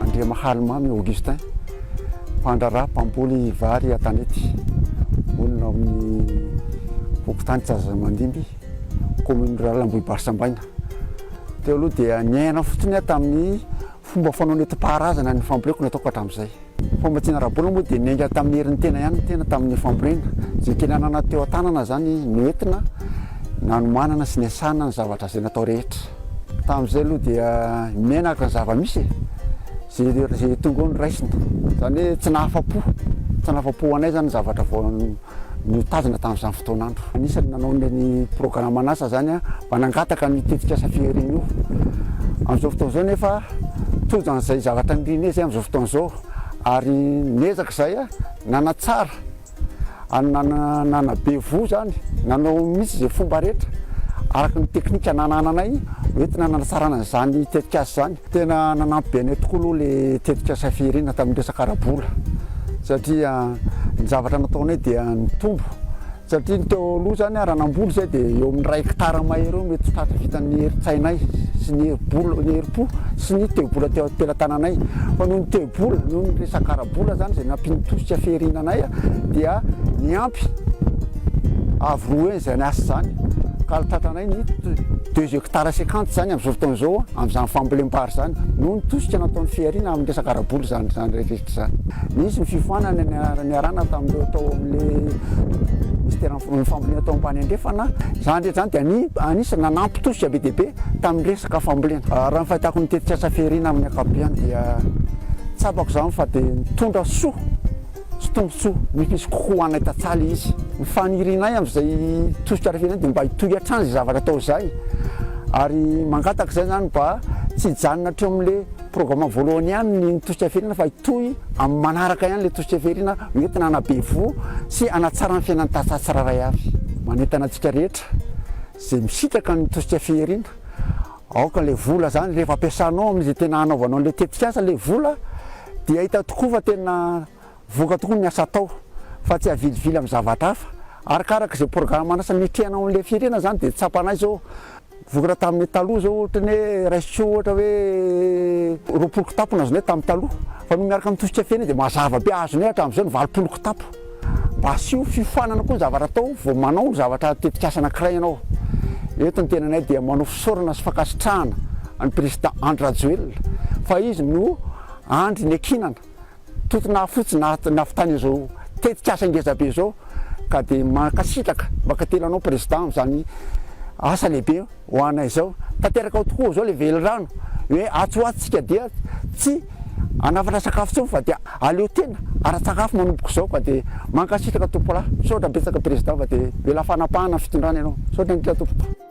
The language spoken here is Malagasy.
Andriamahalimamy Augustin, mpandraharaha mpamboly vary an-tanety, monina ao amin'ny fokontany Tsazamandimby, kaominina rurale Ambohibarsambaina. Teo aloha dia niaina fotsiny aho tamin'ny fomba fanao nentim-paharazana ny famboleko nataoko hatramin'izay. Famatsiana ara-bola moa dia niainga tamin'ny herin'ny tena ihany ny tena tamin'ny fambolena. Izay kely ananana teo an-tanana izany izy no entina nanomanana sy niasana ny zavatra izay natao rehetra. Tamin'izay aloha dia miaina araka ny zava-misy e! Izay tonga eo no raisina. Izany hoe tsy nahafa-po. Tsy nahafa-po ho anay izany ny zavatra vao. notazona tamin'izany fotoan'andro. Anisan'ny nanao ny programan'asa izany mba nangataka ny tetikasa fihariana io. Amin'izao fotoana izao nefa tojo an'izay zavatra nirina izy amin'izao fotoana izao ary niezaka izay nanatsara nanabe voho izany nanao mihitsy izay fomba rehetra araka ny teknika nanananay hoentina nanatsarana izany tetikasa izany. Tena nanampy be anay tokoa aloha ilay tetikasa fihirina tamin'ny resaka ara-bola satria ny zavatra nataonay dia nitombo satria ny teo aloha izany raha namboly izay dia eo amin'ny iray hekitara mahery eo mety tratry vitan'ny herin-tsainay sy ny herim-bola ny herim-po sy ny teo-bola teo am-pelatananay fa noho ny teo-bola noho ny resaka ara-bola izany izay nampian'ny tosika fihirina anay dia niampy avy roa izany asa izany ka Ny deux hectares cinquante izany amin'izao fotoana izao amin'izany fambolem-bary izany noho ny tosika nataon'ny fihariana amin'ny resaka ara-bola izany izany rehetra izany. Nisy ny fifoanana niarahana tamin'ireo tao amin'ilay minisiteran'ny fambolena tao ambany andrefana. Izany rehetra izany dia anisan'ny nanampy tosika be dia be tamin'ny resaka fambolena. Raha ny fahitako ny tetikasa fihariana amin'ny ankapobeany dia tsapako izany fa dia nitondra soa. Tsy tombontsoa mifisy kokoa ho anay tantsaly izy. Ny fanirianay amin'izay tosika ara firenena dia mba hitohy hatrany izay zavatra atao izay ary mangataka izay izany mba tsy hijanona hatreo amin'ilay programme voalohany ihany ny tosika firenena fa hitohy amin'ny manaraka ihany ilay tosika firenena hoentina hanabe voho sy hanatsara ny fiainan'ny tantsaha tsirairay avy. Manentana antsika rehetra izay misitraka ny tosika fihirina Aoka ilay vola izany rehefa ampiasanao amin'izay tena hanaovanao an'ilay tetikasa ilay vola dia hita tokoa fa tena voka tokoa ny asa atao fa tsy avilivily amin'ny zavatra hafa. Arakaraka izay programa an'asa niatrehana ao amin'ilay firenana izany dia tsapanay izao vokatra tamin'ny taloha izao ohatra ny hoe raisintsika ohatra hoe roapolo kitapo no azonay tamin'ny taloha fa noho miaraka amin'ny tosika feno dia mazava be azonay hatramin'izao ny valopolo kitapo. Asio fiofanana koa ny zavatra atao vao manao ny zavatra tetikasa anankiray ianao. Eto ny tenanay dia manao fisaorana sy fankasitrahana an'i Prezida Andry Rajoelina fa izy no Andry niankinana toto nahafotsy nahavitany izao tetikasa ngezabe izao ka dia mankasitraka, mankatelina anao Prezida amin'izany asa lehibe Ho anay izao, tanteraka ao tokoa izao ilay velirano hoe atsy ho atsy isika dia tsy hanafatra sakafo intsony fa dia aleo tena ara-tsakafo manomboka izao ka dia mankasitraka tompolahy. Misaotra betsaka Président fa dia mila fanapahana ny fitondrana ianao. Misaotra indrindra tompoko.